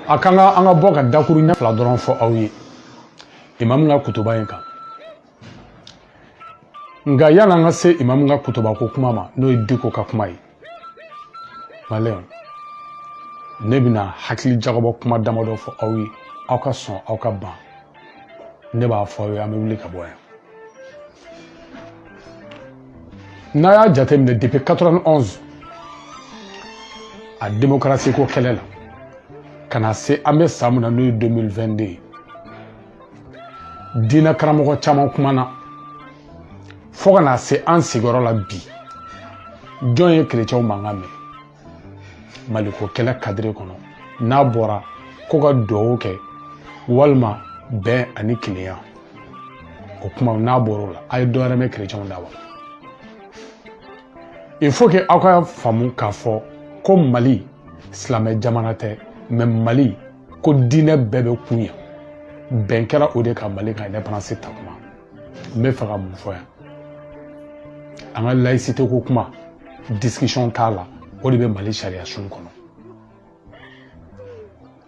a kan ka an ka bɔ ka dakuruɲɛ fila dɔrɔn fɔ aw ye imamu ka kutuba in kan nka yan'an ka se imamu ka kutuba ko kuma ma n'o ye Dicko ka kuma ye malien ne bɛna hakili jagabɔ kuma damadɔ fɔ aw ye aw ka sɔn aw ka ban ne b'a fɔ aw ye an bɛ wuli ka bɔ yan n'a y'a jateminɛ depuis 91 a démocratie ko kɛlɛ la ka na se an bɛ san min na n'o ye 2022 ye diinɛ karamɔgɔ caman kumana fo ka na se an sigiyɔrɔ la bi jɔn ye kerecɛnw mankan mɛn maliko kɛlɛ cadre kɔnɔ n'a bɔra ko ka duwawu kɛ walima bɛn ani kelenya o kuma n'a bɔra o la a ye dɔwɛrɛ mɛn kerecɛnw da wa il faut que aw ka faamu k'a fɔ ko mali silamɛ jamana tɛ mais mali ko diinɛ bɛɛ bɛ kun yan bɛn kɛra o de kan mali ka indépendance ta kuma n bɛ fɛ ka mun fɔ yan an ka laïcité ko kuma discussion t'a la o de bɛ mali sariyasun kɔnɔ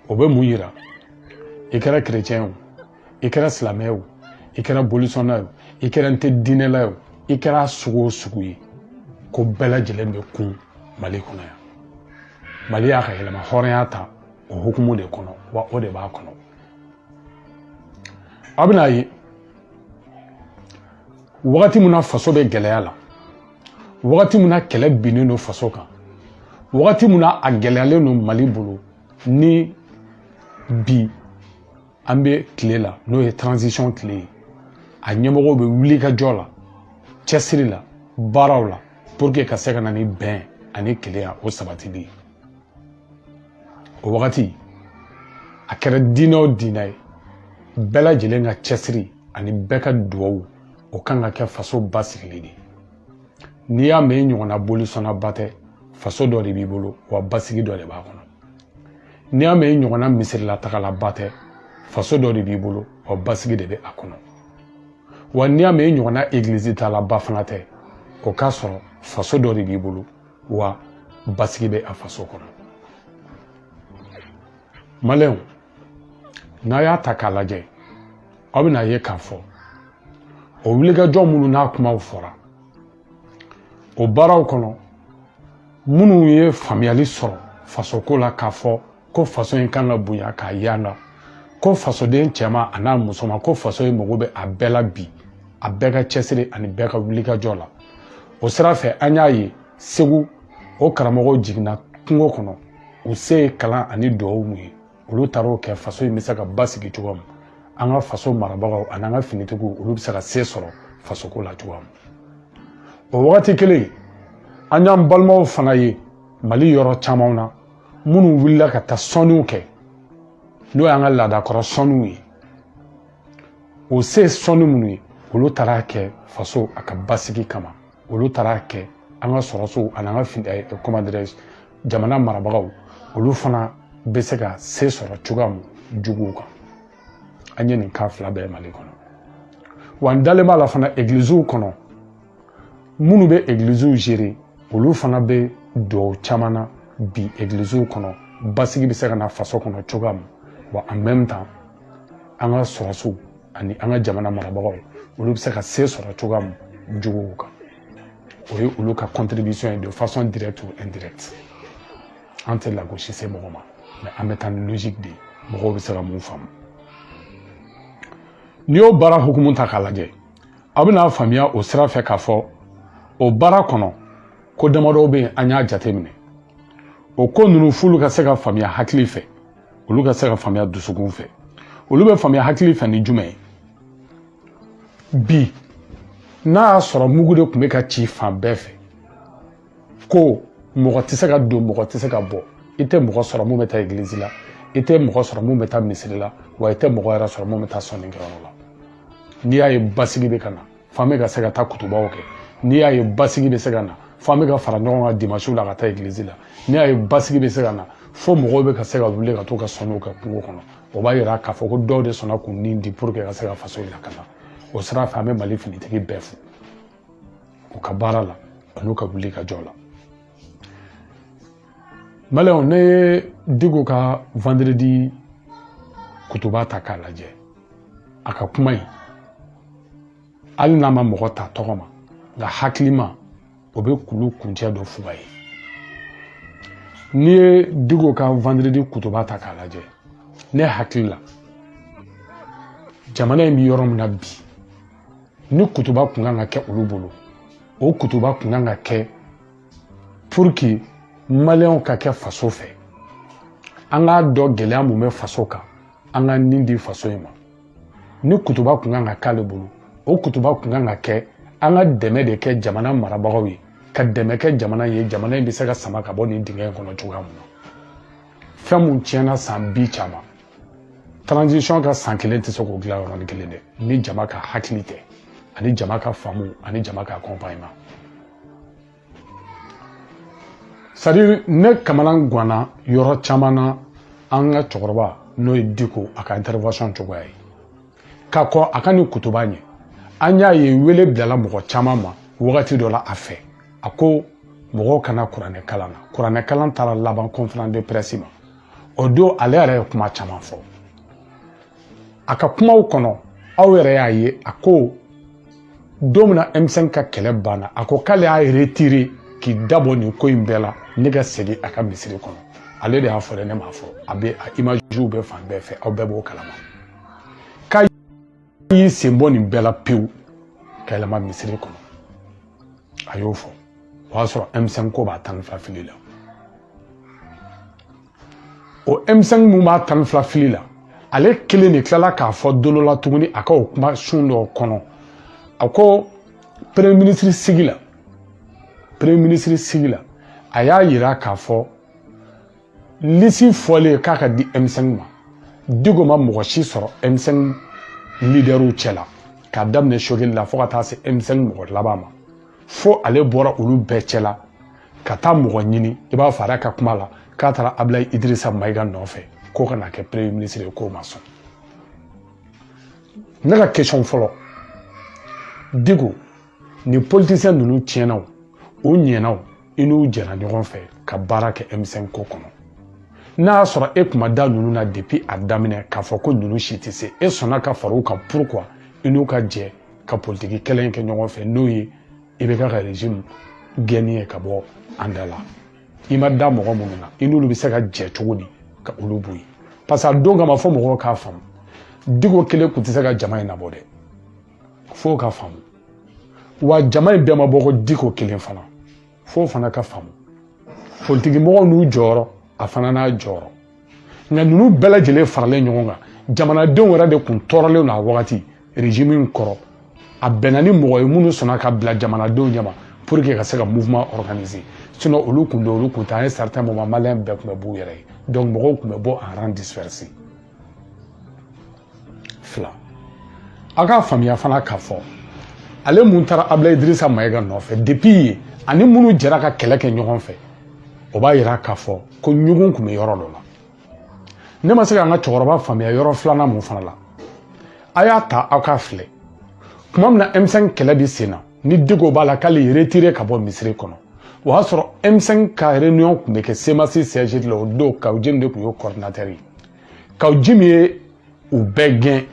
o bɛ mun yira i kɛra chrétien o i kɛra silamɛ o i kɛra bolisɔnna o i kɛra n tɛ diinɛla o i kɛra sugu o sugu ye ko bɛɛ lajɛlen bɛ kun mali kɔnɔ yan mali y'a ka yɛrɛmahɔrɔnya ta o hukumu de kɔnɔ wa o de b'a kɔnɔ A bɛna a ye wagati min na faso bɛ gɛlɛya la wagati min na kɛlɛ binnen don faso kan wagati min na a gɛlɛyalen don mali bolo ni bi an bɛ tile la n'o ye transition tile ye a ɲɛmɔgɔw bɛ wulikajɔ la cɛsiri la baaraw la pour que ka se ka na ni bɛn ani kelenya o sabatili ye o wagati a kɛra diinɛ o diinɛ ye bɛɛ lajɛlen ka cɛsiri ani bɛɛ ka duwawu o kan ka kɛ faso basigili de n'i y'a mɛn i ɲɔgɔnna bolisɔnnaba tɛ faso dɔ de b'i bolo wa basigi dɔ de b'a kɔnɔ n'i y'a mɛn i ɲɔgɔnna misirilatagalaba tɛ faso dɔ de b'i bolo wa basigi de bɛ a kɔnɔ wa n'i y'a mɛn i ɲɔgɔnna egilizitaalaba fana tɛ o k'a sɔrɔ faso dɔ de b'i bolo wa basigi bɛ a faso kɔnɔ malienw n'a y'a ta k'a lajɛ aw bɛn'a ye k'a fɔ o wulikajɔ minnu n'a kumaw fɔra o baaraw kɔnɔ minnu ye faamuyali sɔrɔ fasoko la k'a fɔ ko faso in kan ka bonya k'a yanda ko fasoden cɛman a n'a musoman ko faso in mago bɛ a bɛɛ la bi a bɛɛ ka cɛsiri ani bɛɛ ka wulikajɔ la o sira fɛ an y'a ye segu o karamɔgɔw jiginna kungo kɔnɔ u se ye kalan ani duwawu mun ye olu taar'o kɛ faso in bɛ se ka basigi cogoya min an ka faso marabagaw ani an ka finitigiw olu bɛ se ka se sɔrɔ fasoko la cogoya min o wagati kelen an y'an balimaw fana ye mali yɔrɔ camanw na minnu wulila ka taa sɔnniw kɛ n'o y'an ka laadakɔrɔ sɔnniw ye o se sɔnni minnu ye olu taar'a kɛ faso a ka basigi kama olu taar'a kɛ an ka sɔrɔsiw ani an ka fin eh, comment dirais-je jamana marabagaw olu fana bɛ se ka se sɔrɔ cogoya mun juguw kan an ye nin kan fila bɛɛ mali kɔnɔ wa n dalen b'a la fana egiliziw kɔnɔ minnu bɛ egiliziw gérer olu fana bɛ duwawu caman na bi egiliziw kɔnɔ basigi bɛ se ka na faso kɔnɔ cogoya min wa en même temps an ka sɔrɔsiw ani an ka jamana marabagaw olu bɛ se ka se sɔrɔ cogoya min juguw kan o ye olu ka contribution ye de façon directe ou indirecte an tɛ lagosi se mɔgɔ ma mais an bɛ taa ni logique de ye mɔgɔw bɛ se ka mun faamu n'i y'o baara hukumu ta k'a lajɛ aw bɛna faamuya o sira fɛ k'a fɔ o baara kɔnɔ ko damadɔw bɛ yen an y'a jateminɛ o ko ninnu f'olu ka se ka faamuya hakili fɛ olu ka se ka faamuya dusukun fɛ olu bɛ faamuya hakili fɛ ni jumɛn ye bi n'a y'a sɔrɔ mugu de tun bɛ ka ci fan bɛɛ fɛ ko mɔgɔ tɛ se ka don mɔgɔ tɛ se ka bɔ i tɛ mɔgɔ sɔrɔ mun bɛ taa egilizi la i tɛ mɔgɔ sɔrɔ mun bɛ taa misiri la wa i tɛ mɔgɔ yɛrɛ sɔrɔ mun bɛ taa sɔnnikɛyɔrɔ la n'i y'a ye basigi bɛ ka na f'an bɛ ka se ka taa kutubaw kɛ n'i y'a ye basigi bɛ se ka na f'an bɛ ka fara ɲɔgɔn kan dimansiw la ka taa egilizi la n'i y'a ye basigi bɛ se ka na fo mɔgɔw bɛ ka se ka wuli ka t'u ka sɔnniw kɛ kungo kɔnɔ o b'a yira k'a fɔ ko dɔw de sɔnna k'u ni di pour que ka se ka faso in lakana o sira fɛ an bɛ mali finitigi bɛɛ fo u ka baara la an'u ka wulikajɔ la maliyɛnw ne ye diko ka vendredi kutuba ta k'a lajɛ a ka kuma in hali n'a ma mɔgɔ ta tɔgɔ ma nka hakilima o bɛ kulu kuncɛ dɔn fuga ye n'i ye diko ka vendredi kutuba ta k'a lajɛ ne hakili la jamana in bɛ yɔrɔ min na bi ni kutuba kun kan ka kɛ olu bolo o kutuba kun kan ka kɛ pour que maliyɛnw ka kɛ faso fɛ an k'a dɔn gɛlɛya mun bɛ faso kan an ka nin di faso in ma ni kutuba kun kan ka k'ale bolo o kutuba kun kan ka kɛ an ka dɛmɛ de kɛ jamana marabagaw ye ka dɛmɛ kɛ jamana ye jamana in bɛ se ka sama ka bɔ nin dingɛ in kɔnɔ cogoya mun na fɛn mun tiɲɛna san bi caman transition ka san kelen tɛ se k'o dilan yɔrɔnin kelen dɛ ni jama ka hakili tɛ ani jama ka faamu ani jama ka accompagnement c'est à dire ne kamana guanna yɔrɔ caman na an ka cɛkɔrɔba n'o ye diko a ka intervention cogoya ye ka kɔn a ka nin kutuba ɲɛ an y'a ye wele bilala mɔgɔ caman ma wagati dɔ la a fɛ a ko mɔgɔw ka na kuranɛ kalan na kuranɛ kalan taara laban conférence de presse ma o don ale yɛrɛ ye kuma caman fɔ a ka kumaw kɔnɔ aw yɛrɛ y'a ye a ko don min na M5 ka kɛlɛ banna a ko k'ale y'a retire k'i dabɔ nin ko in bɛɛ la ne ka segin a ka misiri kɔnɔ ale de y'a fɔ dɛ ne m'a fɔ a bɛ a imaziw bɛ fan bɛɛ fɛ aw bɛɛ b'o kalama i y'i sen bɔ nin bɛɛ la pewu ka yɛlɛma misiri kɔnɔ a y'o fɔ o y'a sɔrɔ M5 ko b'a tan ni fila fili la o M5 mun b'a tan ni fila fili la ale kelen de tilala k'a fɔ don dɔ la tuguni a ka o kuma sun dɔ kɔnɔ a ko premier ministre sigi la premier ministre sigi la a y'a yira k'a fɔ lisi fɔlen k'a ka di M5 ma diko ma mɔgɔ si sɔrɔ M5 lidɛriw cɛ la k'a daminɛ sogeli la fo ka taa se M5 mɔgɔ laban ma fo ale bɔra olu bɛɛ cɛ la ka taa mɔgɔ ɲini i b'a fɔ a ka kuma la k'a taara abilayi idirisa mayiga nɔfɛ k'o ka na kɛ premier ministre ye k'o ma sɔn ne ka question fɔlɔ diko ni politisiyɛn ninnu tiɲɛna o ɲɛna o i n'u jɛra ɲɔgɔn fɛ ka baara kɛ M5 ko kɔnɔ n'a y'a sɔrɔ e kun ma da ninnu na depuis a daminɛ k'a fɔ ko ninnu si tɛ se e sɔnna ka fara u kan pourquoi i n'u ka jɛ ka politiki kɛlɛ in kɛ ɲɔgɔn fɛ n'o ye IBK ka régime gɛnni ye ka bɔ an da la i ma da mɔgɔ minnu na i n'olu bɛ se ka jɛ cogo di ka olu bɔ yen parce que a don kama fɔ mɔgɔw k'a faamu diko kelen tun tɛ se ka jama in nabɔ dɛ f'o ka faamu wa jama in bɛɛ ma bɔ ko diko kelen fana f'o fana ka faamu politikimɔgɔw n'u jɔyɔrɔ a fana n'a jɔyɔrɔ nka ninnu bɛɛ lajɛlen faralen ɲɔgɔn kan jamanadenw yɛrɛ de tun tɔɔrɔlen don a wagati régime in kɔrɔ a bɛnna ni mɔgɔ ye minnu sɔnna ka bila jamanadenw ɲɛma pour que ka se ka mouvement organiser sinon olu kun don olu kun tɛ an ye certain moment maliyɛn bɛɛ tun bɛ b'u yɛrɛ ye donc mɔgɔw tun bɛ bɔ en rang dispersé fila aw k'a faamuya fana k'a fɔ ale mun taara abilayi idirisa mayiga nɔfɛ depi yen ani minnu jɛra ka kɛlɛ kɛ ɲɔgɔn fɛ o b'a yira k'a fɔ ko ɲugun tun bɛ yɔrɔ dɔ la ne ma se k'an ka cɛkɔrɔba faamuya yɔrɔ filanan mun fana la a y'a ta aw k'a filɛ tuma min na m5 kɛlɛ bɛ sen na ni diko b'a la k'ale y'i retire ka bɔ misiri kɔnɔ o y'a sɔrɔ m5 ka réunion tun bɛ kɛ semasi siège de la o don kawu jim de tun y'o coordinateur ye kawu jim ye u bɛɛ gɛn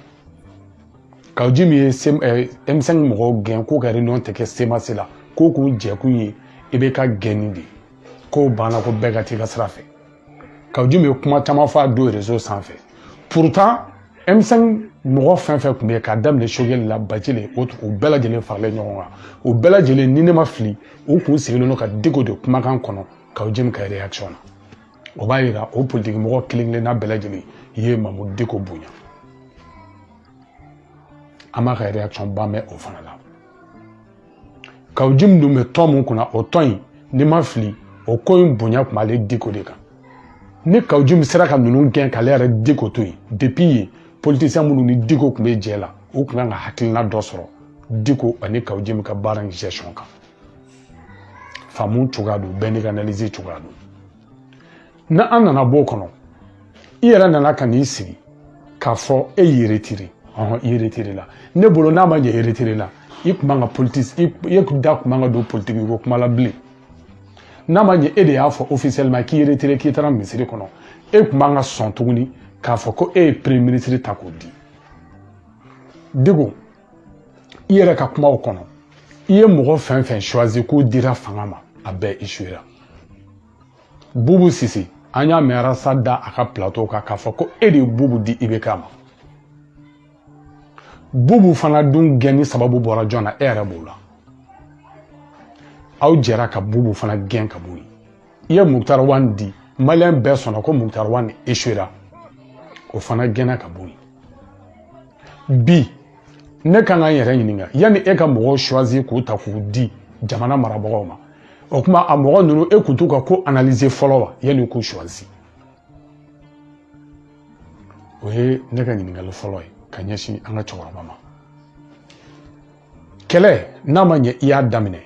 kawu jim ye m5 mɔgɔw gɛn k'u ka réunion tɛ kɛ semasi la ko k'u jɛkun ye ibk gɛnni de ye k'o banna ko bɛɛ ka t'i ka sira fɛ kawu jim ye kuma caman fɔ a don rezo sanfɛ purutan m5 mɔgɔ fɛn fɛn tun bɛ yen k'a daminɛ sogɛli la bacili o u bɛɛ lajɛlen faralen ɲɔgɔn kan u bɛɛ lajɛlen ni ne ma fili u kun sigilen don ka diko de kumakan kɔnɔ kawu jim ka reaction na o b'a yira o politiki mɔgɔ kelen kelenna bɛɛ lajɛlen ye mamudu diko bonya an b'a ka reaction ba mɛn o fana la kawu jim dun bɛ tɔn mun kunna o tɔn in ni n ma fili o ko in bonya tun b'ale diko de kan ni kawu jim sera ka ninnu gɛn k'ale yɛrɛ diko to yen depi yen politisiyɛn minnu ni diko tun bɛ jɛ la u tun kan ka hakilina dɔ sɔrɔ diko ani kawu jim ka baara in gestion kan faamu cogoya don bɛɛ n'i ka analyse cogoya don n'an nana b'o kɔnɔ i yɛrɛ nana ka n'i sigi k'a fɔ e y'i retire ɔhɔn i retirela ne bolo n'a ma ɲɛ i retirela i kun man ka politiki i da kun man ka don politiki ko kuma la bilen n'a ma ɲɛ e de y'a fɔ officiellement k'i retire k'i taara misiri kɔnɔ e kun man ka sɔn tuguni k'a fɔ ko e ye premier minisiri ta k'o di diko i yɛrɛ ka kumaw kɔnɔ i ye mɔgɔ fɛn fɛn choisi k'o dira fanga ma a bɛɛ échouera bubu sise an y'a mɛn arasa da a ka plateau kan k'a fɔ ko e de ye bubu di ibk ma bubu fana dun gɛnni sababu bɔra jɔn na e yɛrɛ b'o la aw jɛra ka bubu fana gɛn ka bɔ yen i ye mukutari wani di maliyɛn bɛɛ sɔnna ko mukutari wani échouera o fana gɛnna ka bɔ yen bi ne kan ka n yɛrɛ ɲininka yanni e ka mɔgɔw choisir k'u ta k'u di jamana marabagaw ma o kuma a mɔgɔ ninnu e kun t'u ka ko analyser fɔlɔ wa yanni k'u choisir o ye ne ka ɲininkali fɔlɔ ye ka ɲɛsin an ka cɛkɔrɔba ma kɛlɛ n'a ma ɲɛ i y'a daminɛ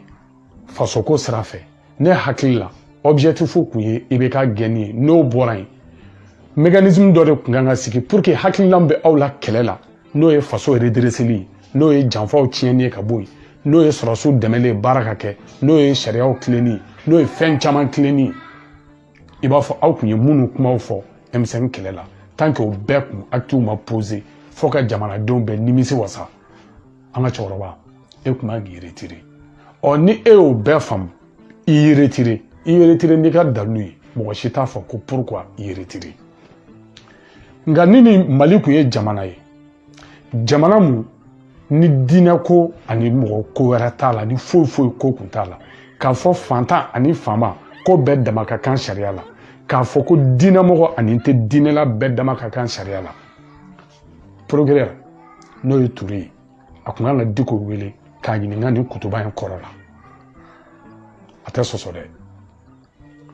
fasoko sira fɛ ne hakili la objectif kun ye ibk gɛnni ye n'o bɔra yen mécanisme dɔ de kun kan ka sigi pour que hakililan bɛ aw la kɛlɛ la n'o ye faso redreseli ye n'o ye janfaw tiɲɛni ye ka bɔ yen n'o ye sɔrɔsiw dɛmɛli ye baara ka kɛ n'o ye sariyaw tilenni ye n'o ye fɛn caman tilenni ye i b'a fɔ aw kun ye minnu kumaw fɔ m5 kɛlɛ la tant que o bɛɛ kun actiw ma poser fo ka jamanadenw bɛɛ nimisi wasa an ka cɛkɔrɔba e kun man k'i retire ɔ ni e y'o bɛɛ faamu i y'i retire i y'i retire n'i ka dalu ye mɔgɔ si t'a fɔ ko pourquoi i y'i retire nka ni nin mali kun ye jamana ye jamana mun ni diinɛ ko ani mɔgɔ ko wɛrɛ t'a la ni foyi foyi ko kun t'a la k'a fɔ fantan ani faama ko bɛɛ dama ka kan sariya la k'a fɔ ko diinɛmɔgɔ ani n tɛ diinɛ la bɛɛ dama ka kan sariya la Procureur n'o ye ture ye a kun kan ka diko wele k'a ɲininka nin kutuba in kɔrɔ la a tɛ sɔsɔ dɛ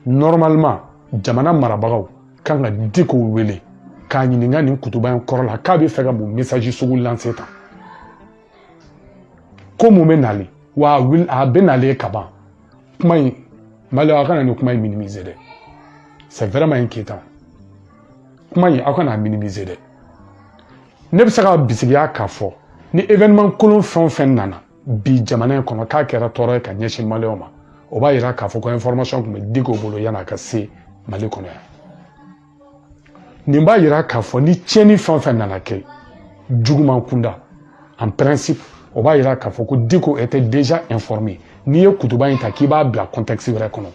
normalement jamana marabagaw kan ka diko wele k'a ɲininka nin kutuba in kɔrɔ la k'a bɛ fɛ ka mun message sugu lase tan ko mun bɛ nali wa a bɛ nalen ka ban kuma in maliyɛnw aw kana nin kuma in minimiser dɛ c'est vraiment inquiétant kuma in aw kana minimiser dɛ ne bɛ se ka bisigiya k'a fɔ ni événement kolon fɛn o fɛn nana bi jamana in kɔnɔ k'a kɛra tɔɔrɔ ye ka ɲɛsin maliyɛnw ma o b'a yira k'a fɔ ko information tun bɛ diko bolo yan'a ka se mali kɔnɔ yan nin b'a yira k'a fɔ ni tiɲɛni fɛn o fɛn nana kɛ juguman kunda en principe o b'a yira k'a fɔ ko diko était déjà informé n'i ye kutuba in ta k'i b'a bila contexte wɛrɛ kɔnɔ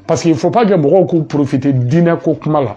parce qu'il faut pas que mɔgɔw k'u profiter diinɛ ko kuma la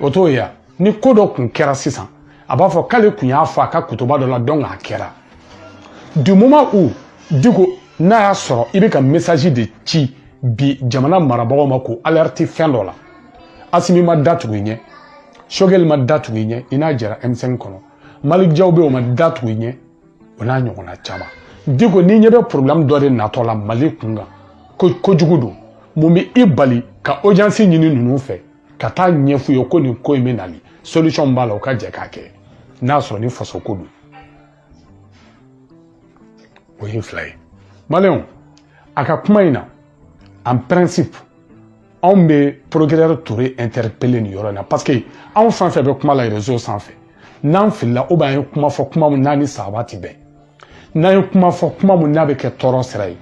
o t'o ye ni ko dɔ kun kɛra sisan a b'a fɔ k'ale kun y'a fɔ a ka kutuba dɔ la donc a kɛra du moment où diko n'a y'a sɔrɔ i bɛ ka message de ci bi jamana marabagaw ma k'u alerte fɛn dɔ la asimi ma da tugu i ɲɛ sogɛli ma da tugu i ɲɛ i n'a jɛra m5 kɔnɔ malik jaw bɛ o ma da tugu i ɲɛ o n'a ɲɔgɔnna caman diko n'i ɲɛ bɛ problème dɔ de natɔ la mali kun kan ko kojugu don mun bɛ i bali ka audience ɲini ninnu fɛ ka taa ɲɛf'u ye ko nin ko in bɛ nali solution b'a la u ka jɛ k'a kɛ n'a sɔrɔ ni faso ko don o ye fila ye maliyɛnw a ka kuma in na en principe anw bɛ procureur ture interpeller nin yɔrɔ in na parce que anw fɛn fɛn bɛ kuma la réseau sanfɛ n'an filila ou bien an ye kuma fɔ kuma min naani saba tɛ bɛn n'an ye kuma fɔ kuma min n'a bɛ kɛ tɔɔrɔ sira ye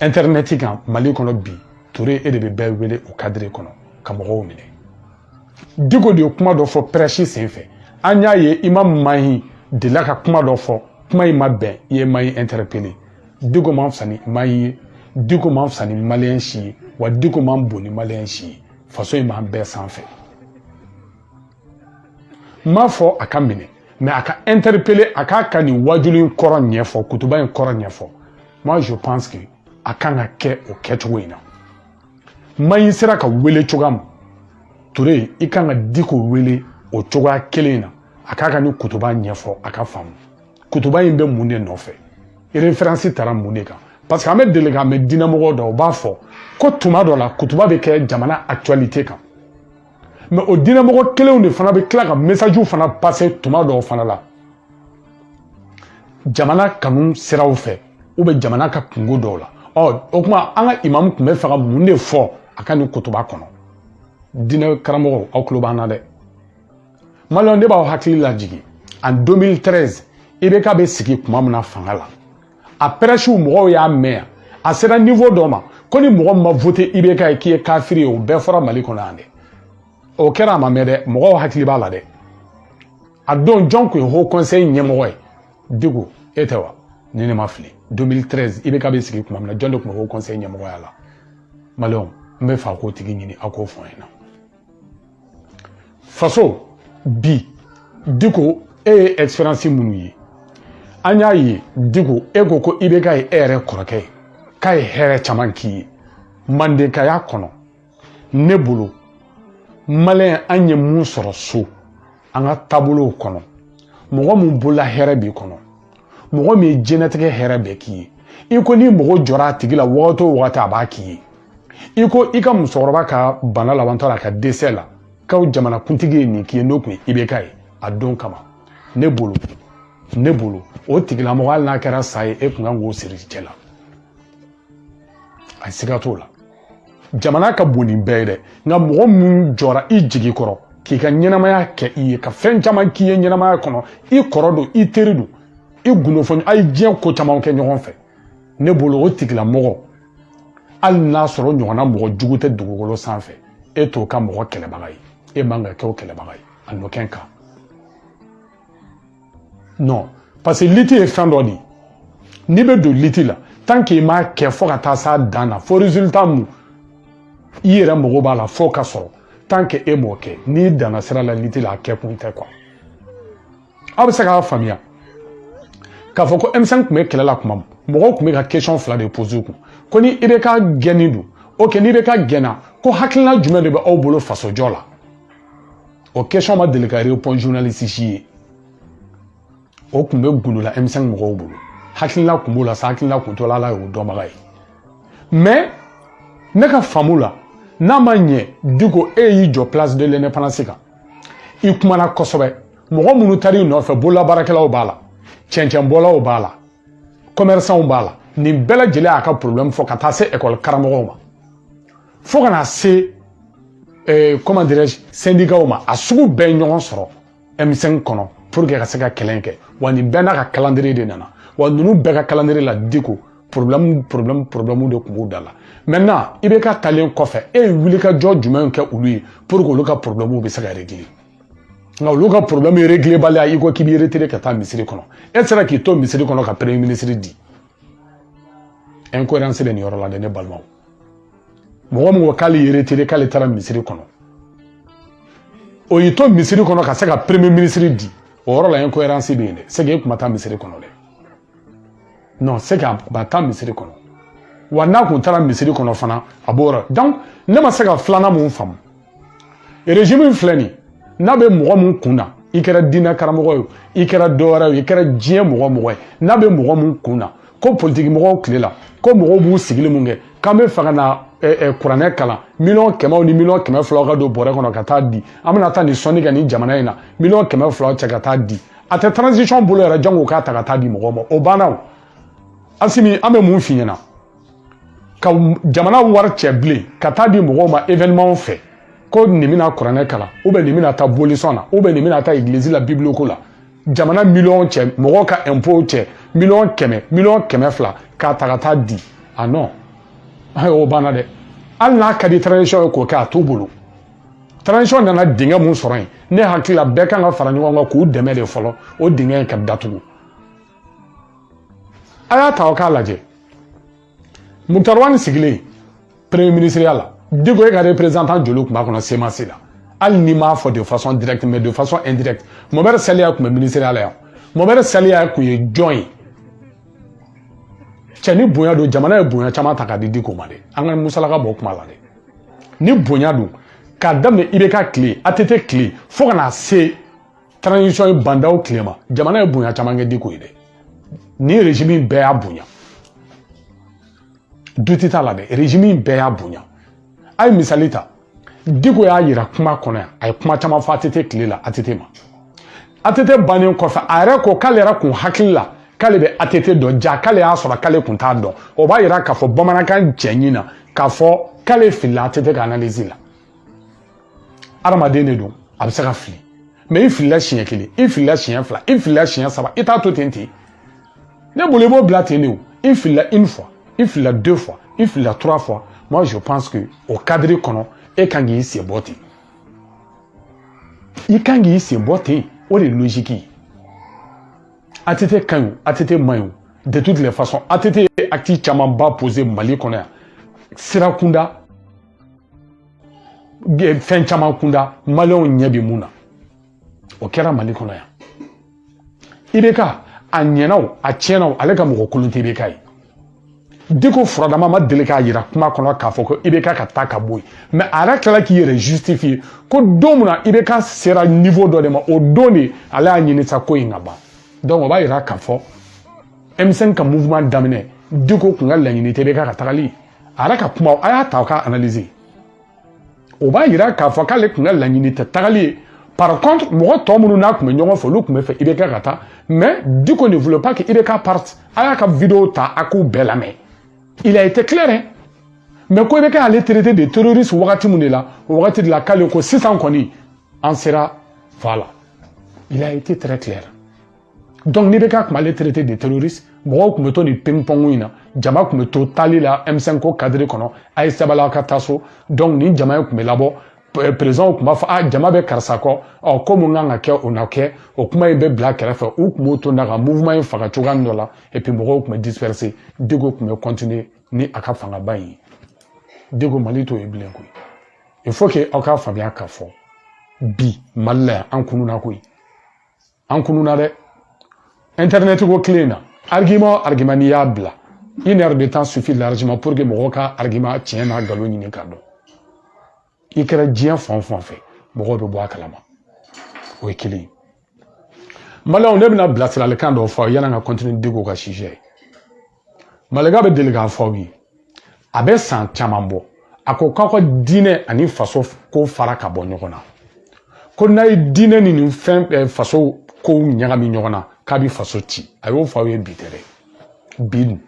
intɛrinɛti kan mali kɔnɔ bi ture e de bɛ bɛɛ wele o kadiri kɔnɔ ka mɔgɔw minɛ diko de ye kuma dɔ fɔ pɛrɛsi sen fɛ an y'a ye imam mahi delila ka kuma dɔ fɔ kuma in ma bɛn i ye mahi intɛrɛpele diko man fisa ni mahi ye diko man fisa ni maliyɛn si ye wa diko man bon ni maliyɛn si ye faso in b'an bɛɛ sanfɛ n m'a fɔ a ka minɛ mais a ka interpeller a k'a ka nin wajuli in kɔrɔ ɲɛfɔ kutuba in kɔrɔ ɲɛfɔ moi je pense que a kan ka kɛ o kɛcogo in na mahi sera ka wele cogoya min ture i kan ka diko wele o cogoya kelen in na a k'a ka nin kutuba ɲɛfɔ a ka faamu kutuba in bɛ mun de nɔfɛ referansi tara mun de kan parce que an bɛ deli k'a mɛn diinɛmɔgɔ dɔw b'a fɔ ko tuma dɔ la kutuba bɛ kɛ jamana actualité kan mais o diinɛmɔgɔ kelenw de fana bɛ tila ka mesajiw fana pase tuma dɔw fana la jamana kanu siraw fɛ u bɛ jamana ka kunko dɔw la ɔ o tuma an ka imamu tun bɛ fɛ ka mun de fɔ a ka nin kutuba kɔnɔ diinɛ karamɔgɔw aw tulo b'an na dɛ maliyɛnw ne b'aw hakili lajigin en 2013 ibk bɛ sigi tuma min na fanga la a pɛrɛsiw mɔgɔw y'a mɛn yan a sera nivo dɔ ma ko ni mɔgɔ ma voté ibk ye k'i ye kafiri ye o bɛɛ fɔra mali kɔnɔ yan dɛ o kɛra a ma mɛn dɛ mɔgɔw hakili b'a la dɛ a don jɔn tun ye haut conseil ɲɛmɔgɔ ye diko e tɛ wa ni ne ma fili 2013 ibk bɛ sigi tuma min na jɔn de tun bɛ haut conseil ɲɛmɔgɔya la maliyɛnw n bɛ fɛ a k'o tigi ɲini a k'o fɔ n ɲɛna faso bi diko e ye expérience minnu ye an y'a ye diko e ko ko ibk ye e yɛrɛ kɔrɔkɛ ye k'a ye hɛrɛ caman k'i ye mandenkaya kɔnɔ ne bolo maliyɛn an ye mun sɔrɔ so an ka taabolow kɔnɔ mɔgɔ min bolola hɛrɛ b'i kɔnɔ mɔgɔ min ye diɲɛlatigɛ hɛrɛ bɛɛ k'i ye i ko ni mɔgɔ jɔra a tigi la wagati o wagati a b'a k'i ye i ko i ka musokɔrɔba ka bana labantɔ la a ka dɛsɛ la k'aw jamanakuntigi ye nin k'i ye n'o tun ye ibk ye a don kama ne bolo ne bolo o tigilamɔgɔ hali n'a kɛra sa ye e kun kan k'o siri i cɛ la a siga t'o la jamana ka bon ni bɛɛ ye dɛ nka mɔgɔ min jɔra i jigi kɔrɔ k'i ka ɲɛnamaya kɛ i ye ka fɛn caman k'i ye ɲɛnamaya kɔnɔ i kɔrɔ don i teri don i gundofɔɲɔ a ye diɲɛ ko caman kɛ ɲɔgɔn fɛ ne bolo o tigilamɔgɔ hali n'a sɔrɔ ɲɔgɔnna mɔgɔ jugu tɛ dugukolo sanfɛ e t'o ka mɔgɔ kɛlɛbaga ye e man ka kɛ o kɛlɛbaga ye a nɔkɛn kan non parce que liti ye fɛn dɔ de ye n'i bɛ don liti la tant que i m'a kɛ fo ka taa s'a dan na fo résultat mun i yɛrɛ mago b'a la fo ka sɔrɔ tant que e m'o kɛ n'i danna sira la liti la a kɛ kun tɛ quoi aw bɛ se k'a faamuya k'a fɔ ko M5 tun bɛ kɛlɛ la tuma min mɔgɔw tun bɛ ka question fila de poser u kun ko ni IBK gɛnni don ok ni IBK gɛnna ko hakilina jumɛn de bɛ aw bolo fasojɔ la o question ma deli ka répondre journaliste si ye o tun bɛ golo la M5 mɔgɔw bolo hakilina tun b'o la sa hakilina tun t'o la ala y'o dɔnbaga ye mais ne ka faamu la n'a ma ɲɛ Diko e y'i jɔ place de l'indépendance kan i kumana kosɛbɛ mɔgɔ minnu taar'i nɔfɛ bololabaarakɛlaw b'a la cɛncɛnbɔlaw b'a la commerçantw b'a la nin bɛɛ lajɛlen y'a ka problème fɔ ka taa se école karamɔgɔw ma fo ka na se eh, comment dirais-je syndicat ma a sugu bɛɛ ye ɲɔgɔn sɔrɔ M5 kɔnɔ pour que ka se ka kɛlɛ kɛ wa nin bɛɛ n'a ka calendrier de nana wa ninnu bɛɛ ka calendrier la Diko problème problème problème de tun b'u da la maintenant IBK talen kɔfɛ e ye wulikajɔ jumɛn kɛ olu ye pour que olu ka problème bɛ se ka régler nka olu ka problème régler baliya i ko k'i b'i retiré ka taa misiri kɔnɔ e sera k'i to misiri kɔnɔ ka premier ministre di incohérence bɛ nin yɔrɔ la dɛ ne balimaw mɔgɔ min ko k'ale y'i retiré k'ale taara misiri kɔnɔ o y'i to misiri kɔnɔ ka se ka premier ministre di o yɔrɔ la incohérence bɛ yen dɛ c'est que e tun ma taa misiri kɔnɔ dɛ non c'est que a tun ma taa misiri kɔnɔ wa n'a tun taara misiri kɔnɔ fana a b'o yɔrɔ donc ne ma se ka filanan mun faamu régime in filɛ nin n'a bɛ mɔgɔ mun kun na i kɛra diinɛ karamɔgɔ ye i kɛra dɔwɛrɛ ye i kɛra diɲɛ mɔgɔ mɔgɔ ye n'a bɛ mɔgɔ mun kun na ko politiki mɔgɔw tile la ko mɔgɔw b'u sigili mun kɛ k'an bɛ fɛ ka na kuranɛ kalan miliyɔn kɛmɛw ni miliyɔn kɛmɛ filaw ka don bɔrɛ kɔnɔ ka taa di an bɛna taa nin sɔnni kɛ nin jamana in na miliyɔn kɛmɛ filaw cɛ ka taa di a tɛ transition bolo yɛrɛ jango k'a ta ka taa di mɔgɔw ma o banna o Asimi an bɛ mun f'i ɲɛna ka jamana wari cɛ bilen ka taa di mɔgɔw ma événementw fɛ ko nin bɛna kuranɛ kalan ou bien nin bɛna taa bolisɔn na ou bien nin bɛna taa église la bible ko la jamana miliyɔn cɛ mɔgɔw ka impôtw cɛ miliyɔn kɛmɛ miliyɔn kɛmɛ fila k'a ta ka taa di ah non o banna dɛ hali n'a ka di transition ye k'o kɛ a t'u bolo transition nana dingɛ mun sɔrɔ yen ne hakili la bɛɛ kan ka fara ɲɔgɔn kan k'u dɛmɛ de fɔlɔ o dingɛ in ka datugu a y'a ta aw k'a lajɛ Muktar Wani sigilen premier ministreya la Diko e ka représentant joli tun b'a kɔnɔ CMAS la hali n'i m'a fɔ de façon directe mais de façon indirecte Mohamed Saliya tun bɛ ministreya la yan Mohamed Saliya tun ye jɔn ye cɛ ni bonya don jamana ye bonya caman ta k'a di Diko ma dɛ an ka musalaka bɔ kuma la dɛ ni bonya don k'a daminɛ IBK tile ATT tile fo ka na se transition ye Ba Ndaw tile ma jamana ye bonya caman kɛ diko ye dɛ nin régime in bɛɛ y'a bonya doute t'a la dɛ régime in bɛɛ y'a bonya a ye misali ta diko y'a yira kuma kɔnɔ yan a ye kuma caman fɔ ATT tile la ATT ma ATT bannen kɔfɛ a yɛrɛ ko k'ale yɛrɛ kun hakili la k'ale bɛ ATT dɔn ja k'ale y'a sɔrɔ k'ale kun t'a dɔn o b'a yira k'a fɔ bamanankan cɛɲi na k'a fɔ k'ale filila ATT ka analyse la adamaden de don a bɛ se ka fili mais i filila siɲɛ kelen i filila siɲɛ fila i filila siɲɛ saba i t'a to ten ten ne bolo i b'o bila ten de o i filila une fois i filila deux fois i filila trois fois moi je pense que o cadre kɔnɔ e kan k'i sen bɔ ten i kan k'i sen bɔ ten o de ye logique ye ATT ka ɲi o ATT man ɲi o de toutes les façons ATT ye acte camanba posé Mali kɔnɔ yan sira kunda fɛn caman kunda maliyɛnw ɲɛ bɛ mun na o kɛra mali kɔnɔ yan IBK a ɲɛna o a tiɲɛna o ale ka mɔgɔ kolon tɛ IBK ye diko furadama ma deli k'a yira kuma kɔnɔ k'a fɔ ko IBK ka taa ka bɔ yen mais a yɛrɛ tilala k'i yɛrɛ justifier ko don min na IBK sera niveau dɔ de ma o don de ale y'a ɲini sa ko in ka ban donc o b'a yira k'a fɔ M5 ka mouvement daminɛ diko kun ka laɲini tɛ IBK ka tagali a yɛrɛ ka kuma a y'a ta k'a analyser o b'a yira k'a fɔ k'ale kun ka laɲini tɛ tagali ye par contre mɔgɔ tɔ minnu n'a kun bɛ ɲɔgɔn fɛ olu kun b'a fɛ IBK ka taa mais Diko ne voulait pas que IBK parte a y'a ka vidéo ta a k'u bɛɛ lamɛn il a été clair hein mais ko IBK y'ale traiter de terroriste wagati min de la o wagati de la k'ale ko sisan kɔni an sera voilà il a été très clair Donc n'IBK kun m'ale traiter de terroriste mɔgɔw kun bɛ to nin ping-pong in na jama kun bɛ to taali la M5 ko cadre kɔnɔ a ye sabali aw ka taa so donc nin jama in kun bɛ labɔ président kun b'a fɔ a jama bɛ karisa kɔ ɔ ko mun kan ka kɛ o na kɛ o kuma in bɛ bila kɛrɛfɛ u kun b'o to na ka mouvement in faga cogoya dɔ la et puis mɔgɔw kun bɛ disperser Diko kun bɛ continuer ni a ka fangaba in ye Diko Mali t'o ye bilen koyi il faut que aw k'a faamuya k'a fɔ bi Mali la yan an kununa koyi an kununa dɛ internet ko kile in na argument argument n'i y'a bila une heure de temps suffit largement pour que mɔgɔw ka argument tiɲɛ n'a nkalon ɲini k'a dɔn i kɛra diɲɛ fan o fan fɛ mɔgɔw bɛ bɔ a kalama o ye kelen ye maliyɛnw ne bɛna bilasiralikan dɔw fɔ aw yanni an ka continuer diko ka sujet ye malika bɛ deli k'a fɔ aw ye a bɛ san caman bɔ a ko k'aw ka diinɛ ani faso ko fara ka bɔ ɲɔgɔn na ko n'a ye diinɛ ni nin fɛn eh, faso kow ɲagami ɲɔgɔn na k'a bɛ faso ci a y'o fɔ aw ye bi tɛ dɛ bi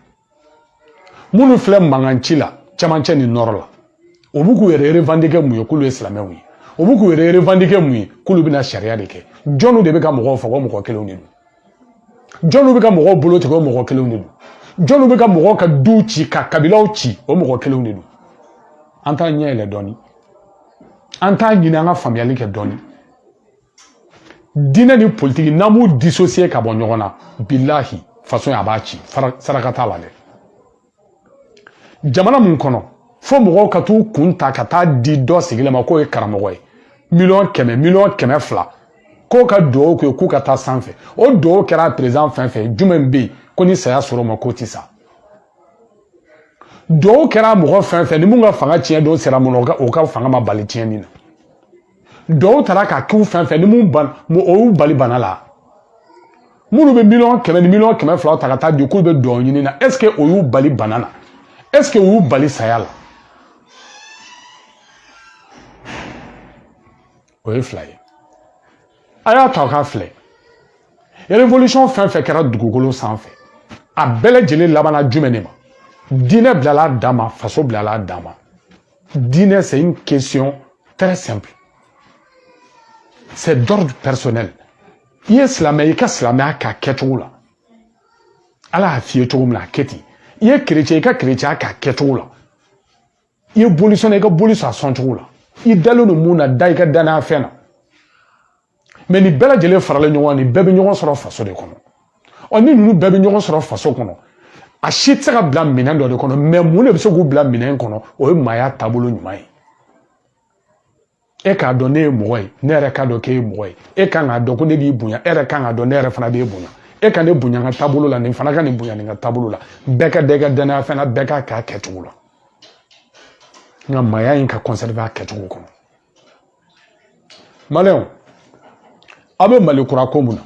minnu filɛ mankan ci la camancɛ ni nɔrɔ la o b'u k'u yɛrɛ revendiquer mun ye k'olu ye silamɛw ye o b'u k'u yɛrɛ revendiquer mun ye k'olu bɛna sariya de kɛ jɔnw de bɛ ka mɔgɔw faga o mɔgɔ kelenw de don jɔnw bɛ ka mɔgɔw bolo tigɛ o mɔgɔ kelenw de don jɔnw bɛ ka mɔgɔw ka duw ci ka kabilaw ci o mɔgɔ kelenw de don an t'an ɲɛ yɛlɛ dɔɔnin an t'a ɲini an ka faamuyali kɛ dɔɔnin diinɛ ni politiki n'an m'u dissocier ka bɔ ɲɔgɔn na bilahi faso a b'a ci saraka t'a la dɛ jamana mun kɔnɔ fo mɔgɔw ka t'u kun ta ka taa di dɔ sigilen ma k'o ye karamɔgɔ ye miliyɔn kɛmɛ miliyɔn kɛmɛ fila k'o ka dugawu kɛ k'u ka taa sanfɛ o dugawu kɛra perezan fɛn fɛn jumɛn bɛ yen ko ni saya ser'o ma k'o tɛ sa dugawu kɛra mɔgɔ fɛn fɛn ni mun ka fanga tiɲɛ don sera mun na o ka fanga ma bali tiɲɛni na dugawu taara ka k'u fɛn fɛn ni mun ban o y'u bali bana la minnu bɛ miliyɔn kɛmɛ ni miliyɔn kɛmɛ fila ta ka taa di k'u bɛ dugawu ɲini na ɛseke o y'u bali bana na ɛseke o y'u bali saya la o ye fila ye a y'a ta k'a filɛ révolution fɛn fɛn kɛra dugukolo sanfɛ a bɛɛ lajɛlen labanna jumɛn de ma diinɛ bilala a dan ma faso bilala a dan ma diinɛ c'est une question très simple c'est d'ordre personnel i ye silamɛ i ka silamɛya k'a kɛcogo la ala y'a f'i ye cogo min na a kɛ ten i ye kerecɛn i ka kerecɛnya k'a kɛcogo la i ye bolisɔnna i ka boli sɔn a sɔncogo la i dalen don mun na da i ka dannaya fɛn na mɛ nin bɛɛ lajɛlen faralen ɲɔgɔn nin bɛɛ bɛ ɲɔgɔn sɔrɔ faso de kɔnɔ ɔ ni ninnu bɛɛ bɛ ɲɔgɔn sɔrɔ faso kɔnɔ a si tɛ se ka bila minɛn dɔ de kɔnɔ mɛ mun de bɛ se k'u bila minɛn kɔnɔ o ye maaya taabolo ɲuman ye e k'a dɔn ne ye mɔgɔ ye ne yɛrɛ k'a dɔn k'e ye mɔgɔ ye e kan k'a dɔn ko ne b'i bonya e yɛrɛ kan k'a dɔn ne yɛrɛ fana b'e bonya e ka ne bonya n ka taabolo la nin fana ka nin bonya nin ka taabolo la bɛɛ ka da i ka dannaya fɛn na bɛɛ k'a k'a kɛcogo la nka maaya in ka conserver a kɛcogo kɔnɔ maliyɛnw aw bɛ mali kura ko mun na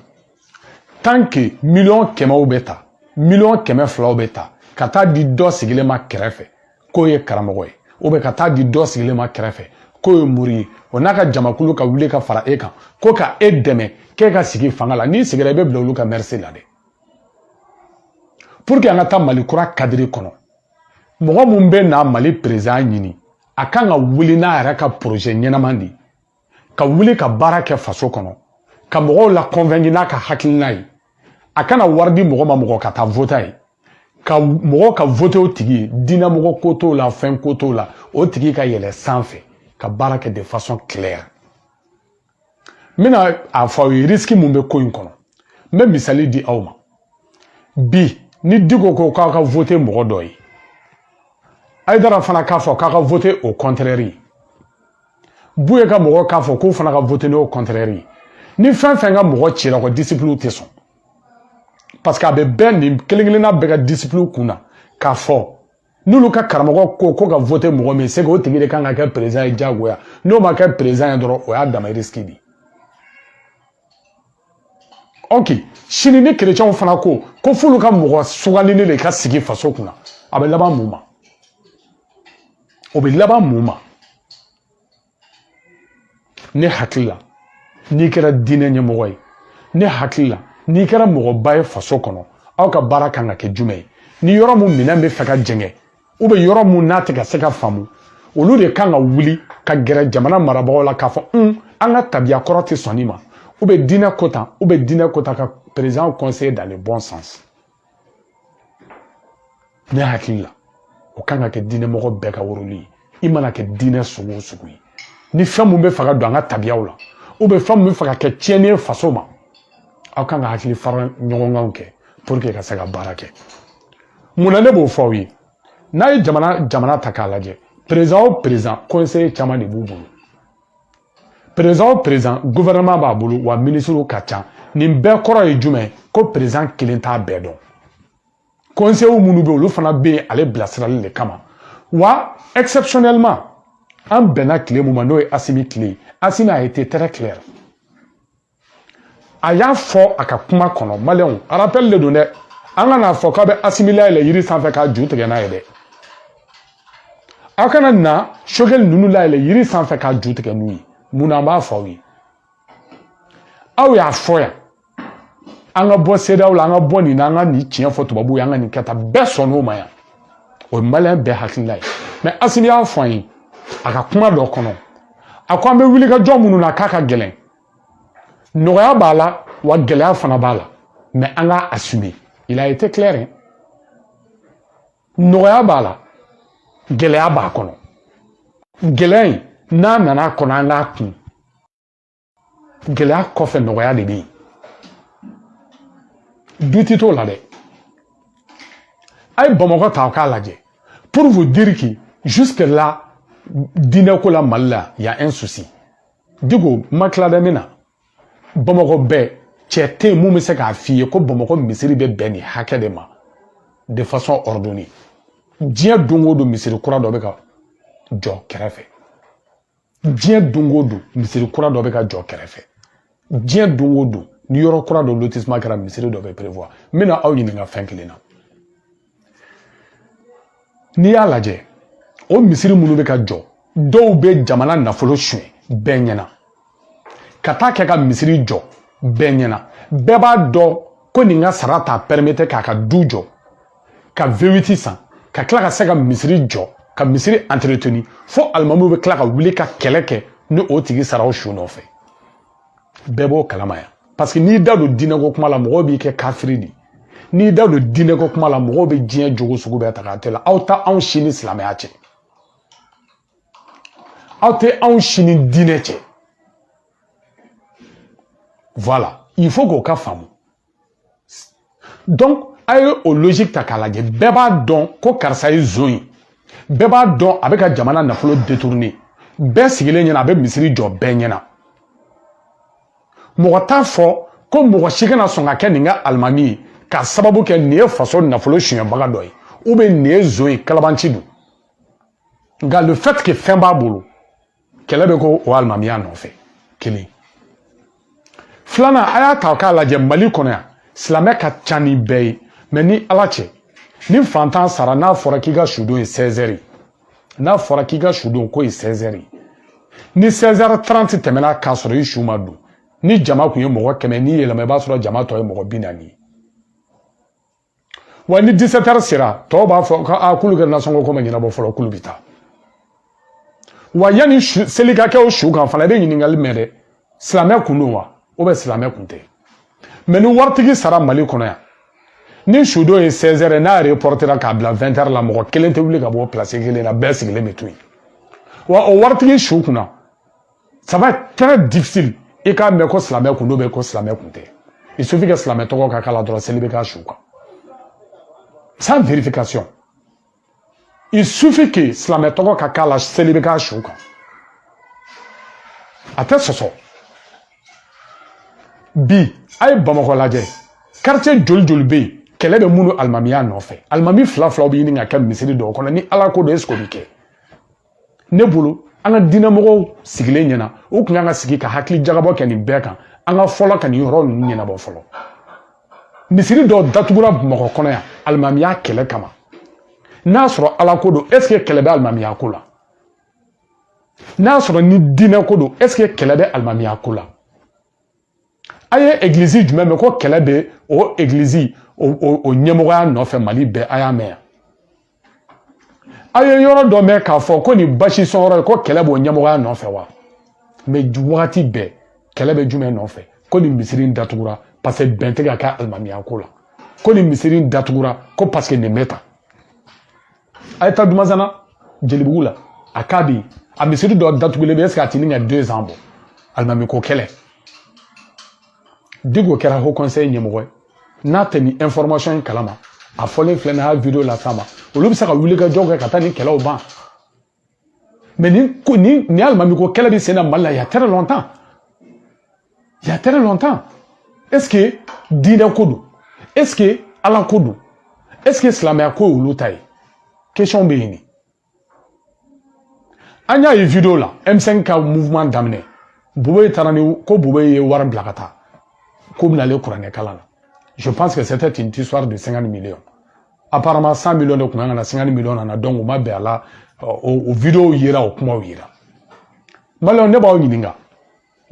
tant que miliyɔn kɛmɛw bɛ ta miliyɔn kɛmɛ filaw bɛ ta ka taa di dɔ sigilen ma kɛrɛfɛ k'o ye karamɔgɔ ye ou bien ka taa di dɔ sigilen ma kɛrɛfɛ k'o ye mori ye o n'a ka jamakulu ka wuli ka fara e kan ko ka e dɛmɛ k'e ka sigi fanga la n'i sigira i bɛ bila olu ka merci la dɛ pour que an ka taa mali kura kadiri kɔnɔ mɔgɔ mun bɛ na mali perezan ɲini a kan ka wuli n'a yɛrɛ ka poroze ɲɛnama de ye ka wuli ka baara kɛ faso kɔnɔ ka mɔgɔw la kɔnfɛnki n'a ka hakilina ye a kana wari di mɔgɔ ma mɔgɔ ka taa vote a ye ka mɔgɔ ka vote o tigi ye diinɛmɔgɔ ko t'o la fɛn ko t'o la o tigi ka yɛlɛ sanfɛ ka baara kɛ de fasɔn kilɛri n bɛna a fɔ aw ye risiki mun bɛ ko in kɔnɔ n bɛ misali di aw ma bi ni diko ko k'a ka vote mɔgɔ dɔ ye ayidara fana k'a fɔ k'a ka vote o kɔntrɛri ye buye ka mɔgɔ k'a fɔ k'o fana ka vote o kɔntrɛri ye ni fɛn fɛn ka mɔgɔ cira ko disipiliw tɛ sɔn parce que a bɛ bɛɛ nin kelen kelenna bɛɛ ka disipiliw kun na k'a fɔ n'olu ka karamɔgɔ ko k'u ka vote mɔgɔ min se o tigi de kan ka kɛ perezan ye diyagoya n'o ma kɛ perezan ye dɔrɔn o y'a dama risiki de ye ok sini ni kerecɛnw fana ko ko f'olu ka mɔgɔ sugandilen de ka sigi faso kunna a bɛ laban mun ma o bɛ laban mun ma ne hakili la n'i kɛra diinɛ ɲɛmɔgɔ ye ne hakili la n'i kɛra mɔgɔba ye faso kɔnɔ aw ka baara kan ka kɛ jumɛn ye ni yɔrɔ mun min n'a bɛ fɛ ka jɛngɛ ou bien yɔrɔ mun n'a tɛ ka se ka faamu olu de kan ka wuli ka gɛrɛ jamana marabagaw la k'a fɔ un an ka tabiya kɔrɔ tɛ sɔn nin ma ou bien diinɛ ko tan ou bien diinɛ ko tan ka perezan kɔnseye dans le bon sens ne hakili la o kan ka kɛ diinɛ mɔgɔ bɛɛ ka woroli ye i mana kɛ diinɛ sugu o sugu ye ni fɛn mun bɛ fɛ ka don an ka tabiyaw la ou bien fɛn mun bɛ fɛ ka kɛ tiɲɛni ye faso ma aw kan ka hakili fara ɲɔgɔnkanw kɛ pour que ka se ka baara kɛ mun na ne b'o fɔ aw ye n'a ye jamana jamana ta k'a lajɛ perezan o perezan kɔnseye caman de b'u bolo perezan gofɛrɛnaman b'a bolo wa minisiriw ka ca nin bɛɛ kɔrɔ ye jumɛn ye ko perezan kelen t'a bɛɛ dɔn kɔnseyew minnu bɛ olu fana bɛ yen ale bilasirali de kama wa exceptionnellement an bɛnna tile mun ma n'o ye asimi tile ye asimi a été très clair a y'a fɔ a ka kuma kɔnɔ maliyɛnw arapɛli de don dɛ an kan'a fɔ k'a bɛ asimi layɛlɛ yiri sanfɛ k'a ju tigɛ n'a ye dɛ aw kana na sokɛli ninnu layɛlɛ yiri sanfɛ k'a ju tigɛ n'u ye mun na an b'a fɔ aw ye aw y'a fɔ yan an ka bɔ seedaw la an ka bɔ nin na an ka nin tiɲɛ fɔ tubabuw ye an ka nin kɛ tan bɛɛ sɔnn'o ma yan o ye maliyɛn bɛɛ hakilila ye mɛ asimi y'a fɔ an ye a ka kuma dɔ kɔnɔ a ko an bɛ wuli ka jɔ minnu na k'a ka gɛlɛn nɔgɔya b'a la wa gɛlɛya fana b'a la mais an k'a assumer il a été clair hein? nɔgɔya b'a la gɛlɛya b'a kɔnɔ gɛlɛya in n'a nana kɔnɔ an k'a kun gɛlɛya kɔfɛ nɔgɔya de bɛ yen doute t'o la dɛ a ye bamakɔ ta k'a lajɛ pour vous dire que jusque là diinɛko la mali la y a un souci Diko ma tila bɛ min na bamakɔ bɛɛ cɛ tɛ yen mun bɛ se k'a f'i ye ko bamakɔ misiri bɛ bɛn nin hakɛ de ma de façon ordonnée diɲɛ don o don misiri kura dɔ bɛ ka jɔ kɛrɛfɛ diɲɛ don o don misiri kura dɔ bɛ ka jɔ kɛrɛfɛ diɲɛ don o don ni yɔrɔ kura dɔ lotissement kɛra misiri dɔ bɛ prévoir n bɛna aw ɲininka fɛn kelen na n'i y'a lajɛ o misiri minnu bɛ ka jɔ dɔw bɛ jamana nafolo suɲɛ bɛɛ ɲɛna ka taa kɛ ka misiri jɔ bɛɛ ɲɛna bɛɛ b'a dɔn ko nin ka sara t'a permettre k'a ka du jɔ ka V8 san ka tila ka se ka misiri jɔ ka misiri entretenir fo alimamiw bɛ tila ka wuli ka kɛlɛ kɛ ni o tigi sara o su nɔfɛ bɛɛ b'o kalama yan parce que n'i da don diinɛko kuma la mɔgɔw b'i kɛ kafiri de n'i da don diinɛko kuma la mɔgɔw bɛ diɲɛ jogo sugu bɛɛ ta k'a d'i la aw tɛ anw si ni silamɛya cɛ aw tɛ anw si ni diinɛ cɛ voilà il faut k'o ka faamu donc a ye o logique ta k'a lajɛ bɛɛ b'a dɔn ko karisa ye zon ye bɛɛ b'a dɔn a bɛ ka jamana nafolo détourner bɛɛ sigilen ɲɛna a bɛ misiri jɔ bɛɛ ɲɛna mɔgɔ t'a fɔ ko mɔgɔ si kana sɔn ka kɛ nin ka alimami ye k'a sababu kɛ nin ye faso nafolo sonyɛbaga dɔ ye ou bien nin ye zon ye kalabanci don nka le fait que fɛn b'a bolo kɛlɛ bɛ kɛ o alimamiya nɔfɛ kelen filanan a y'a ta k'a lajɛ mali kɔnɔ yan silamɛ ka ca ni bɛɛ ye mais ni ala cɛ ni fantan sara n'a fɔra k'i ka sudon ye sɛzɛri n'a fɔra k'i ka sudon ko ye sɛzɛri ni sɛzɛri taranti tɛmɛna k'a sɔrɔ i su ma don ni jama kun ye mɔgɔ kɛmɛ n'i yɛlɛma i b'a sɔrɔ jama tɔ ye mɔgɔ bi naani ye wa ni 17 heures sera tɔw b'a fɔ ko a k'olu ka nasɔngɔ ko ma ɲɛnabɔ fɔlɔ k'olu bɛ taa wa yanni seli ka kɛ o su kan fana i bɛ ɲininkali mɛn dɛ silamɛ kun don wa ou bien silamɛ kun tɛ mais ni waritigi sara mali kɔnɔ yan ni sudon ye 16 heures n'a reportera k'a bila 20 heures la mɔgɔ kelen tɛ wuli ka bɔ place kelen na bɛɛ sigilen bɛ to yen wa o waritigi su kunna ça va être très difficile i k'a mɛn ko silamɛ kun don bɛ ko silamɛ kun tɛ il suffit que silamɛ tɔgɔ ka k'a la dɔrɔn seli bɛ k'a su kan sans vérification il suffit que silamɛ tɔgɔ ka k'a la seli bɛ k'a su kan a tɛ sɔsɔ bi a ye bamakɔ lajɛ quartier joli joli bɛ yen kɛlɛ bɛ minnu alimamiya nɔfɛ alimami fila filaw bɛ ɲini ka kɛ misiri dɔw kɔnɔ ni ala ko don est ce que o bɛ kɛ ne bolo an ka diinɛmɔgɔw sigilen ɲɛna u tun kan ka sigi ka hakili jagabɔ kɛ nin bɛɛ kan an ka fɔlɔ ka nin yɔrɔ ninnu ɲɛnabɔ fɔlɔ misiri dɔw datugura bamakɔ kɔnɔ yan alimamiya kɛlɛ kama n'a sɔrɔ ala ko don est ce que kɛlɛ bɛ alimamiya ko la n'a sɔrɔ ni diinɛ ko don est ce que kɛlɛ bɛ alimamiya ko la a ye egilizi jumɛn mɛn ko kɛlɛ bɛ o egilizi o o ɲɛmɔgɔya nɔfɛ mali bɛɛ a y'a mɛn a ye yɔrɔ dɔ mɛn k'a fɔ ko nin basi sɔn yɔrɔ ye ko kɛlɛ b'o ɲɛmɔgɔya nɔfɛ wa mais wagati bɛɛ kɛlɛ bɛ jumɛn nɔfɛ ko nin misiri in datugura parce que bɛn tɛ ka kɛ alimamiya ko la ko nin misiri in datugura ko parce que nin bɛ tan a ye taa dumanzana jelibugu la a k'a bɛ yen a misiri dɔ datugulen bɛ est ce que a tɛ ɲini ka deux ans bɔ alimami ko kɛlɛ diko kɛra haut conseil ɲɛmɔgɔ ye n'a tɛ nin information in kalama a fɔlen filɛ nin y'a video las'a ma olu bɛ se ka wulikajɔ kɛ ka taa nin kɛlɛw ban Mais nin, nin, nin alimami ko kɛlɛ bɛ sen na Mali la il y a très longtemps. Il y a très longtemps. Est-ce que diinɛ ko don? Est-ce que Ala ko don? Est-ce que silamɛya ko ye olu ta ye? Question bɛ yen de. An y'a ye video la M5 ka mouvement daminɛ. Boubèye taara ni ko Boubèye ye wari bila ka taa. Ko bɛna alikuranɛ kalan na. Je pense que c'était une histoire de 50 millions. apparemment 100 millions de kun kan ka na 50 millions nana donc u ma bɛn a la o video yera o kumaw yera maliyɛnw ne b'aw ɲininka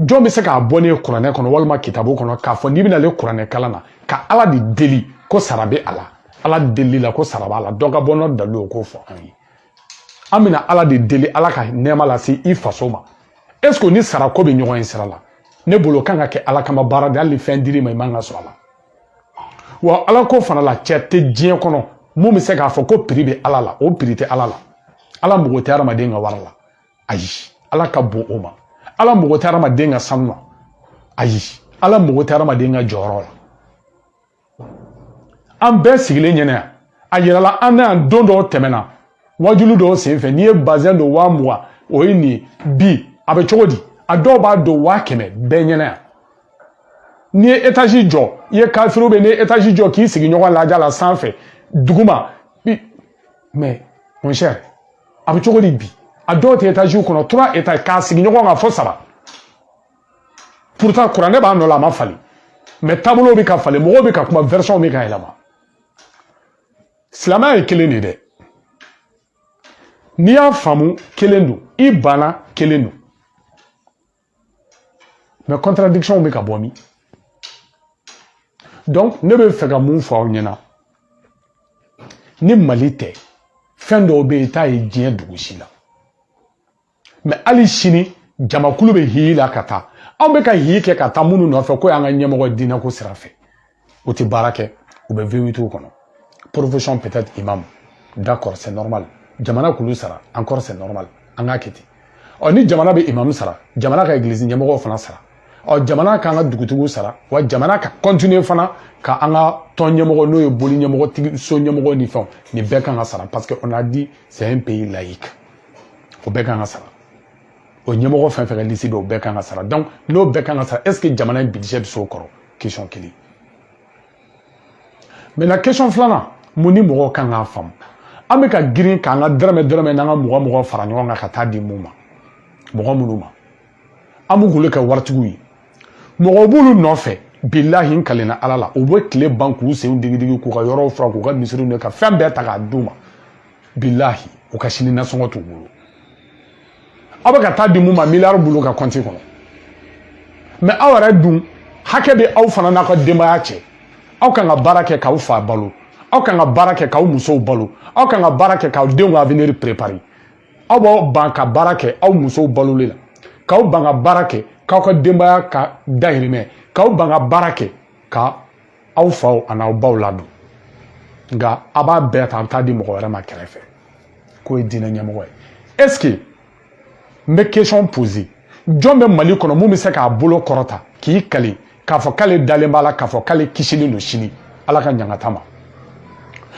jɔn bɛ se k'a bɔ ne ye kuranɛ kɔnɔ walima kitabu kɔnɔ k'a fɔ n'i bɛna alikuranɛ kalan na ka ala de deli ko sara bɛ a la ala delili la ko sara b'a la dɔ ka bɔ n'o dalilu ye k'o fɔ an ye an bɛna ala de deli ala ka nɛɛma lase i faso ma est ce que ni sara ko bɛ ɲɔgɔn ye sira la ne bolo kan ka kɛ ala kama baara de hali ni fɛn dir'i ma i man ka sɔn a la wa ala ko fana la cɛ tɛ diɲɛ kɔnɔ min bɛ se k'a fɔ ko prix bɛ ala la o prix tɛ ala la ala mago tɛ hadamaden ka wari la ayi ala ka bon o ma ala mago tɛ hadamaden ka sanu na ayi ala mago tɛ hadamaden ka jɔyɔrɔ la an bɛɛ sigilen ɲɛna yan a yirala an na yan don dɔw tɛmɛna wajulu dɔw senfɛ n'i ye bazɛn don waa mugan o ye nin bi a bɛ cogo di a dɔw b'a don waa kɛmɛ bɛɛ ɲɛna yan n'i ye etazi jɔ i ye kafiriw bɛ n'i ye etazi jɔ k'i sigi ɲɔgɔn lajɛ la sanfɛ duguma mais mon cher a bɛ cogo di bi a dɔw tɛ etaziw kɔnɔ trois étages k'a sigi ɲɔgɔn kan fo saba pourtant kuranɛ b'a nɔ la a ma falen mais taabolo bɛ ka falen mɔgɔw bɛ ka kuma version bɛ ka yɛlɛma silamɛya ye kelen de dɛ n'i y'a faamu kelen don i banna kelen don mais contradiction bɛ ka bɔ min donc ne bɛ fɛ ka mun fɔ aw ɲɛna ni mali tɛ fɛn dɔw bɛ yen i t'a ye diɲɛ dugu si la mais hali sini jamakulu bɛ hiyi la ka taa anw bɛ ka hiyi kɛ ka taa minnu nɔfɛ k'o y'an ka ɲɛmɔgɔ diinɛko sira fɛ u tɛ baara kɛ u bɛ vewitiw kɔnɔ profession peut être imam d'accord c'est normal jamana k'olu sara encore c'est normal an k'a kɛ ten ɔ ni jamana bɛ imamu sara jamana ka egilizi ɲɛmɔgɔw fana sara ɔ jamana k'an ka dugutigiw sara wa jamana ka kɔntiniye fana ka an ka tɔn ɲɛmɔgɔ n'o ye boli ɲɛmɔgɔ tigi so ɲɛmɔgɔ ni fɛnw nin bɛɛ kan ka sara parce que on a dit c'est un pays laïque o bɛɛ kan ka sara o ɲɛmɔgɔ fɛn fɛn ka lisi bɔ o bɛɛ kan ka sara donc n'o bɛɛ kan ka sara est ce que jamana in budget bɛ s'o kɔrɔ question kelen maintenant question filanan mun ni mɔgɔw kan k'a faamu an bɛ ka girin k'an ka dɔrɔmɛ dɔrɔmɛ n'an ka mugan mugan fara ɲɔgɔn kan ka taa di mun ma mɔgɔ minnu ma an bɛ k'olu kɛ waritigiw ye mɔgɔw b'olu nɔfɛ bilahi n kalenna ala la u bɛ tile ban k'u senw digidigi k'u ka yɔrɔw furan k'u ka misiriw ka fɛn bɛɛ ta k'a d'u ma bilahi u ka sini nasɔngɔ t'u bolo aw bɛ ka taa di mun ma miliyari b'olu ka kɔnti kɔnɔ mais aw yɛrɛ dun hakɛ bɛ aw fana n'aw ka denbaya cɛ aw kan ka baara kɛ k'aw fa balo aw kan ka baara kɛ k'aw musow balo aw kan ka baara kɛ k'aw denw ka avenir préparer aw b'aw ban ka baara kɛ aw musow baloli la k'aw ban ka baara kɛ k'aw ka denbaya ka dahirimɛ k'aw ban ka baara kɛ ka aw faw ani aw baw ladon nka a b'a bɛɛ ta a bɛ taa di mɔgɔ wɛrɛ ma kɛrɛfɛ k'o ye diinɛ ɲɛmɔgɔ ye est ce que n bɛ question poser jɔn bɛ mali kɔnɔ mun bɛ se k'a bolo kɔrɔta k'i kali k'a fɔ k'ale dalen b'a la k'a fɔ k'ale kisilen don sini ala ka ɲangata ma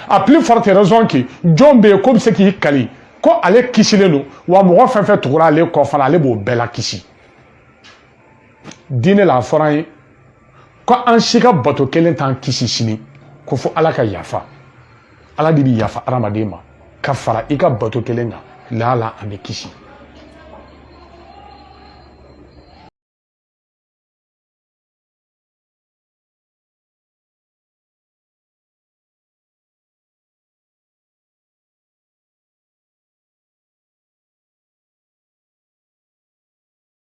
à plus forte raison que jɔn bɛ yen k'o bɛ se k'i kali ko ale kisilen don wa mɔgɔ fɛn fɛn tugura ale kɔ fana ale b'o bɛɛ lakisi diinɛ la a fɔra an ye ko an si ka bato kelen t'an kisi sini ko fo ala ka yafa ala de bi yafa adamaden ma ka fara i ka bato kelen kan laala an bɛ kisi